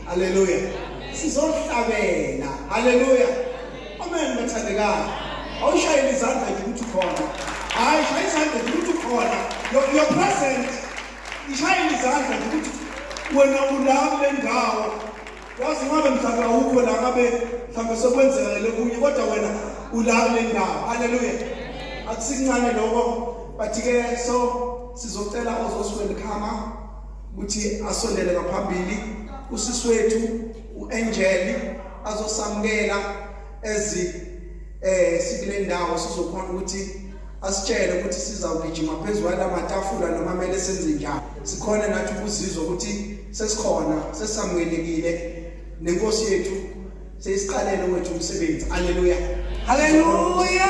haleluya sizohlabela haleluya amen bathandekayo awushayele izandla nje ukuthi ukhona hayi shaya izandla nje ukuthi ukhona your present ishayele izandla nje ukuthi wena ulapho lendawo wazi ngabe mhlawumbe awukho la ngabe mhlawumbe sekwenzekele okunye kodwa wena ulapho lendawo haleluya akusincane lokho but ke so sizocela ozoswelkhama ukuthi asondele ngaphambili usisi wethu uAngel azosamukela ezi eh sikule ndawo sizokhona ukuthi asitshele ukuthi sizawugijima phezulu kwalamatafula noma mele senze njani sikhona nathi ukuzizwa ukuthi sesikhona sesamukelekile nenkosi yethu sesiqalele wethu umsebenzi haleluya haleluya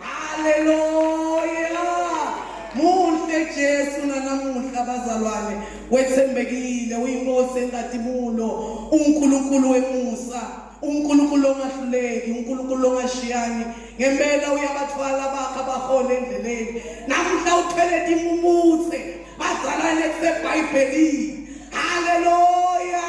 Haleluya! Muhle Jesu nanamuhla bazalwane, wethembekile, uyinkosi engadibulo, uNkulunkulu wemusa, uNkulunkulu ongahluleki, uNkulunkulu ongashiyani. Ngempela uyabathwala bakhe abahole endleleni. Namuhla uthwele timumutse, bazalwane kuseBhayibhelini. Haleluya!